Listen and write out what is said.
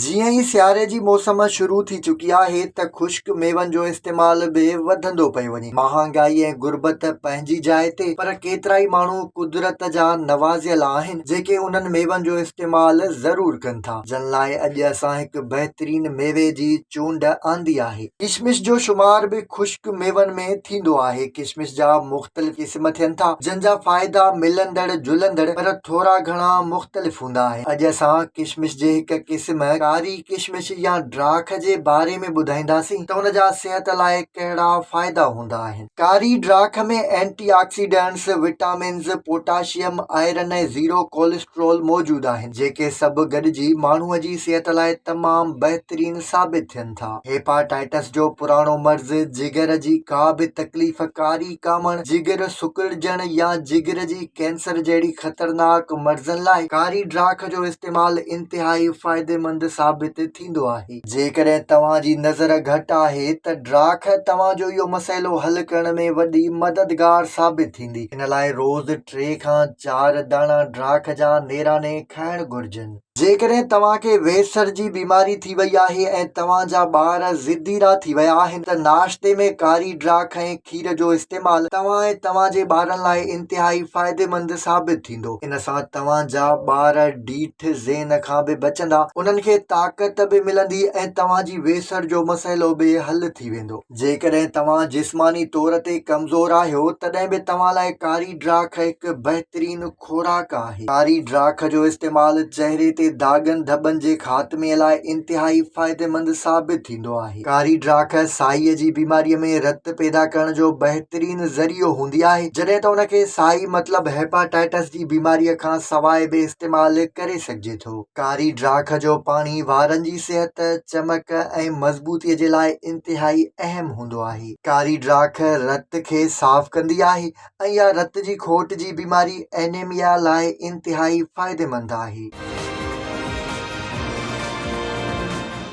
جيئن ئي سياري جي موسم شروع ٿي چڪي آهي ته خشڪ ميون جو استعمال به وڌندو پيو وڃي. مهانگائي ۽ غربت پنهنجي جاء تي پر ڪيترائي ماڻهو قدرت جا نوازيل آهن جيڪي انهن ميون جو استعمال ضرور ڪن ٿا جن لاء اڄ اسان هڪ بهترين ميوي جي چونڊ آندي آهي. ڪشمش جو شمار به خشڪ ميون ۾ ٿيندو آهي. ڪشمش جا مختلف. مختلف قسم ٿين ٿا جن جا فائدا ملندڙ جلندڙ پر ٿورا گهڻا مختلف هوندا آهن اڄ اسان ڪشمش جي هڪ قسم ڪاري ڪشمش يا ڊراک جي باري ۾ ٻڌائينداسين ته ان جا صحت لاء ڪهڙا فائدا هوندا آهن ڪاري ڊراک ۾ antioxidants vitamins potassium iron ۽ zero cholesterol موجود آهن جيڪي سڀ گڏجي ماڻهو جي صحت لاء تمام بهترين ثابت ٿين ٿا. سگهن ٿا. هيپاٽائٽس جو پراڻو مرض جگر جي ڪا به تڪليف ڪاري ڪامڻ، جگر سڪڙجڻ يا جگر جي ڪينسر جهڙي خطرناڪ مرضن لاء ڪاري ڊاک جو استعمال انتهائي فائديمند ثابت ٿيندو آهي. جيڪڏهن توهان جي نظر گهٽ آهي ته ڊاک توهان جو اهو مسئلو حل ڪرڻ ۾ وڏي مددگار ثابت ٿيندي. ان لاء روز ٽي کان چار داڻا ڊاک جا نيراني کائڻ گهرجن. جيڪڏهن توهان کي ويسر جي بيماري ٿي وئي آهي ۽ توهان جا ٻار ضدي ڏا ٿي ويا آهن ته ناشتي ۾ ڪاري ڊرا کئين کير جو استعمال توهان ۽ توهان جي ٻارن لاء انتهائي فائديمند ثابت ٿيندو. ان سان توهان جا ٻار ڊيٺ ذهن کان به بچندا، انهن کي طاقت به ملندي ۽ توهان جي ويسر جو مسئلو به حل ٿي ويندو. جيڪڏهن توهان جسماني طور تي ڪمزور آهيو تڏهن به توهان لاء ڪاري ڊرا کئڪ بهترين. خوراڪ آهي. ڪاري ڊاک جو استعمال چهري تي داغن ڌٻن جي خاتمي لاء انتهائي فائديمند ثابت ٿيندو آهي. ڪاري ڊاک سائيء جي بيماريء ۾ رت پيدا ڪرڻ جو بهترين ذريعو هوندي آهي، جڏهن ته ان کي سائي مطلب هيپاٽائٽس جي بيماريء کان سواء به استعمال ڪري سگهجي ٿو. ڪاري ڊاک جو پاڻي وارن جي صحت، چمڪ ۽ مضبوطيء جي لاء انتهائي اهم هوندو آهي. ڪاري ڊاک رت کي صاف ڪندي آهي ۽ اها رت جي کوٽ جي بيماري Anemia لاء انتهائي فائديمند آهي.